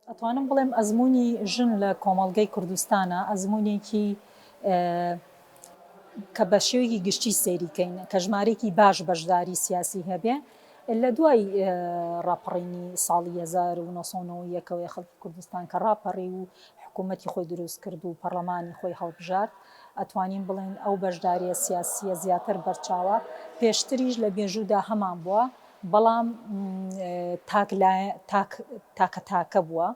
ئەتوانم بڵێم ئەزموونی ژن لە کۆمەڵگەی کوردستانا ئەزموونێکی کە بە شێوەیەکی گشتی سەیری کەین کە ژمارێکی باش بەشداری سیاسی هەبێ لە دوای ڕاپەڕینی ساڵی 1990ەوەی خەڵکی کوردستان کە ڕاپەڕی و حکوومەتتی خۆی دروست کرد و پەرلەمانی خۆی هەڵبژارد ئەتوانین بڵێن ئەو بەشداریە سیاسیە زیاتر بەرچاوە پێشتریش لە بێژوودا هەمان بووە بەڵام تاک تاک تاکە تاکە بووە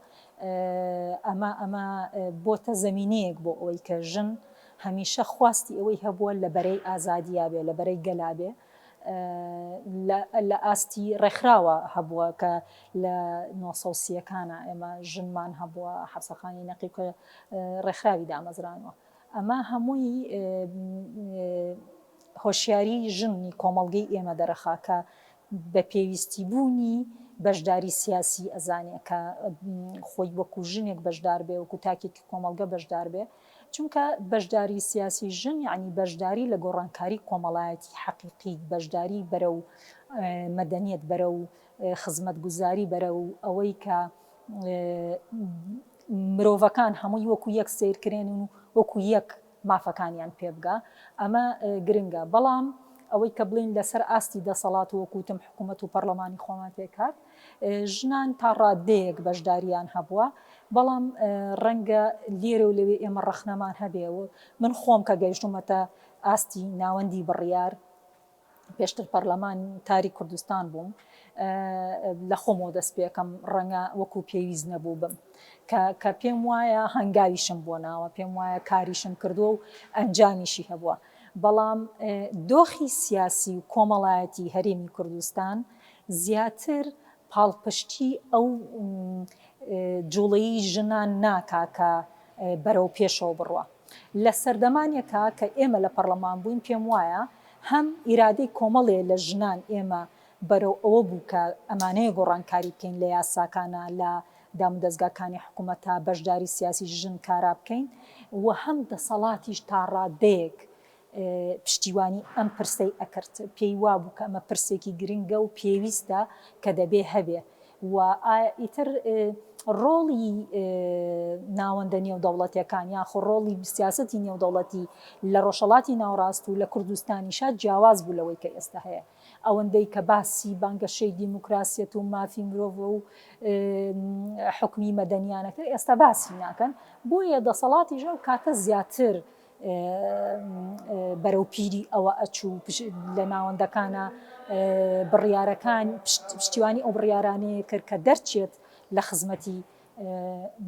ئەمە ئەمە بۆتە زەمینەیەک بۆ ئەوەی کە ژن هەمیشە خواستی ئەوەی هەبووە لە بەرەی ئازادیا بێ لە بەرەی گەلا بێ لە ئاستی ڕێکخراوە هەبووە کە لە نۆسەسیەکانە ئێمە ژنمان هەبووە حەفسەخانی نەقیب کە ڕێکخراوی دامەزرانوە ئەمە هەمووی هۆشیاری ژن ی کۆمەڵگەی ئێمە دەرەخا کە بە پێویستی بوونی بەشداری سیاسی ئەزانێ کە خۆی وەکو ژنێک بەشدار بێ وەکو تاکێکی کۆمەڵگە بەشدار بێ چونکە بەشداری سیاسی ژن یانی بەشداری لە گۆڕانکاری کۆمەڵایەتی حەقیقی بەشداری بەرەو مەدەنیەت بەرەو خزمەتگوزاری بەرەو ئەوەی کە مرۆڤەکان هەمووی وەکو یەک سەیرکرێن و وەکو یەک مافەکانیان پێبگا ئەمە گرنگە بەڵام ئەوەی کە بڵین لەسەر ئاستی دەسەڵات وەکوتم حکوومەت و پەرلەمانی خۆمان پێکات ژنان تا ڕادەیەک بەشداریان هەبووە بەڵام ڕەنگە لێرە و لەوێ ئێمە ڕەخنەمان هەبێ و من خۆم کە گەیشتومەتە ئاستی ناوەندی بڕیار پێشتر پەرلەمان تاری کوردستان بووم لە خۆمەوە دەست پێکەم ڕەنگە وەکو پێویست نەبوو بم کە پێم وایە هەنگاویشم بۆ ناوە پێم وایە کاریشم کردووە و ئەنجامیشی هەبووە بەڵام دۆخی سیاسی و کۆمەڵایەتی هەرێمی کوردستان زیاتر پاڵپشتی ئەو جوڵەی ژنان ناکا کە بەرەو پێشەوە بڕوا. لە سەردەمانێکا کە ئێمە لە پەڕڵەمان بووین پێم وایە هەم ئیرادەی کۆمەڵێ لە ژنان ئێمە بەرەو ئەوە بوو کە ئەمانەیە گۆڕانکاری بکەین لە یاساکانا لە دامودەزگا کانی حکومەتا بەشداری سیاسی ژن کارا بکەین و هەم دەسەڵاتیش تاڕادەیەک پشتیوانی ئەم پرسەی ئەکرد پێی وابوو کە ئەمە پرسێکی گرنگە و پێویستە کە دەبێ هەبێ و ئیتر ڕۆڵی ناوەندە نێودەوڵەتیەکان یاخۆ ڕۆڵی سیاسەتی نێودەوڵەتی لە ڕۆژهەڵاتی ناوەڕاست و لە کوردستانیشا جیاواز بوو لەوەی کە ئێستا هەیە ئەوەندەی کە باسی بانگەشەی دیموکراسیەت و مافی مرۆڤ و حکمی مەدەنیانەکە ئێستا باسی ناکەن بۆیە دەسەڵاتی ژەو کاتە زیاتر بەرەو پیری ئەوە ئەچوو لە ناوەندەکانە بڕیارەکان پشتیوانی ئەو بڕیارانەیە کرد کە دەرچێت لە خزمەتی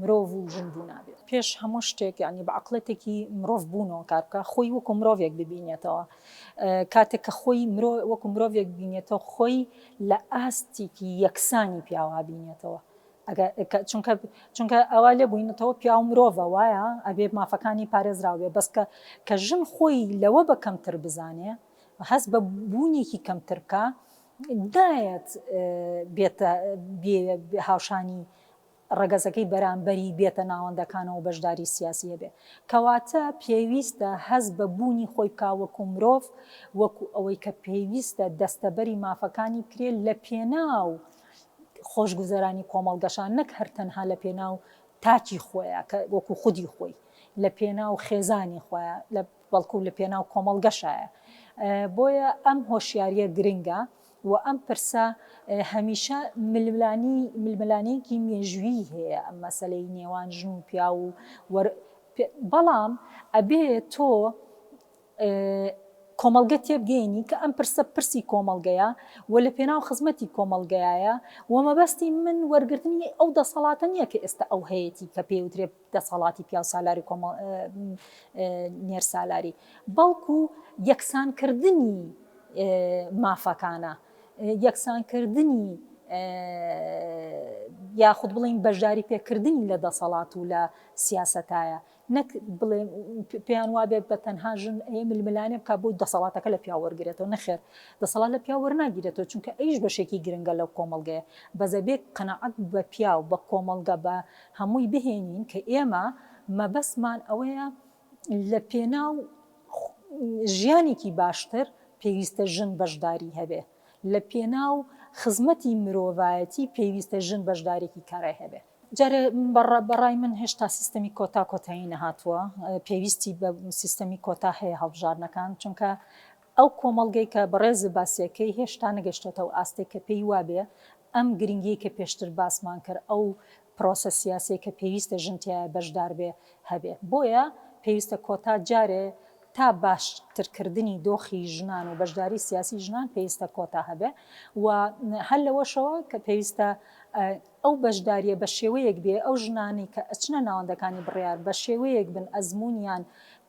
مرۆڤ و ژن بوونابێت پێش هەموو شتێک یعنی بە عقلەتێکی مرۆڤ بوونەوە کار بکە خۆی وەکو مرۆڤێک ببینێتەوە کاتێک کە خۆی مرۆ وەکو مرۆڤێک بینێتەوە خۆی لە ئاستێکی یەکسانی پیاوا بینێتەوە چونکە ئەوە لێ بوینەتەوە پیاو مرۆڤە وایە ئەبێ مافەکانی پارێزراو بێ بەس کە ژن خۆی لەوە بە کەمتر بزانێ هەست بە بوونێکی کەمتر بکا نایەت بێتە هاوشانی ڕەگەزەکەی بەرامبەری بێتە ناوەندەکانەوە بەشداری سیاسی هەبێ کەواتە پێویستە هەز بە بوونی خۆی بکا وەکو مرۆڤ وەکو ئەوەی کە پێویستە دەستەبەری مافەکانی بکرێت لە پێناو خۆشگوزەرانی کۆمەڵگەشە نەک هەر تەنها لە پێناو تاکی خۆیە کە وەکو خودی خۆی لە پێناو خێزانی خۆیە لە بەڵکو لە پێناو کۆمەڵگەشایە بۆیە ئەم هۆشیاریە گرنگە و ئەم پرسە هەمیشە ململانی ململانێکی مێژویی هەیە ئەم مەسلەی نێوان ژن و پیا و بەڵام ئەبێ تۆ کۆمەڵگە تێبگەینی کە ئەم پرسە پرسی کۆمەڵگەیە و لە پێناو خزمەتی کۆمەڵگەیایە و مەبەستی من وەرگرتنی ئەو دەسەڵاتە نییە کە ئێستا ئەو هەیەتی کە پێی وترێ دەسەڵاتی پیاوسالاری کۆمەڵ نێرسالاری بەڵکو یەکسانکردنی مافەکانە یەکسانکردنی یاخود بڵین بەشداری پێکردنی لە دەسەڵات و لە سیاسەتایە نەک بڵێن پێیان وابێت بە تەنها ژن ئەیە ململانێ بکات بۆی دەسەڵاتەکە لە پیاو وەرگرێتەوە، نەخێر دەسەڵات لە پیاو وەرناگیرێتەوە چونکە ئەویش بەشێکی گرنگە لەو کۆمەڵگەیە، بەس ئەبێ قەناعەت بە پیاو، بە کۆمەڵگە، بە هەمووی بهێنین کە ئێمە مەبەستمان ئەوەیە لە پێناو ژیانێکی باشتر پێویستە ژن بەشداری هەبێ، لە پێناو خزمەتی مرۆڤایەتی پێویستە ژن بەشدارێکی کارای هەبێ. جارێ بە ڕای من هێشتا سیستەمی کۆتا کۆتایی نەهاتووە، پێویستی بە سیستەمی کۆتا هەیە هەڵبژاردنەکان، چونکە ئەو کۆمەڵگەی کە بەڕێزت باسیەکەی هێشتا نەگەشتۆتە ئەو ئاستەی کە پێی وابێ ئەم گرنگیەی کە پێشتر باسمان کرد ئەو پرۆسە سیاسیەی کە پێویستە ژن تیایە بەشدار بێ هەبێ بۆیە پێویستە کۆتا جارێ تا باشترکردنی دۆخی ژنان و بەشداری سیاسی ژنان پێویستە کۆتا هەبێ و هەر لەوەشەوە کە پێویستە ئەو بەشدارییە بە شێوەیەک بێ ئەو ژنانەی کە ئەچنە ناوەندەکانی بڕیار بە شێوەیەک بن ئەزموونیان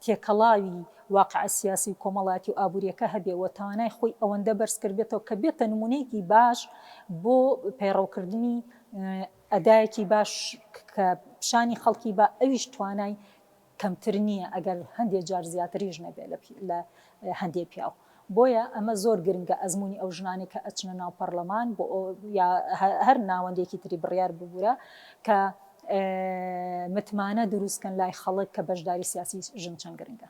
تێکەڵاوی واقع سیاسی و کۆمەڵایەتی و ئابوورییەکە هەبێ و توانای خۆی ئەوەندە بەرز کردبێتەوە کە بێتە نموونەیەکی باش بۆ پەیڕەوکردنی ئەدایەکی باش کە پیشانی خەڵکی با ئەویش توانای کەمتر نییە ئەگەر هەندێ جار زیاتریش نەبێ لە هەندێ پیاو بۆیە ئەمە زۆر گرنگە ئەزمونی ئەو ژنانێک کە ئەچنە ناو پەڕلەمان بۆ یا هەر ناوەندێکی تری بڕیار ببوورە کە متمانە دروستکەن لای خەڵک کە بەشداری سیاسی ژن چەند گرنگە.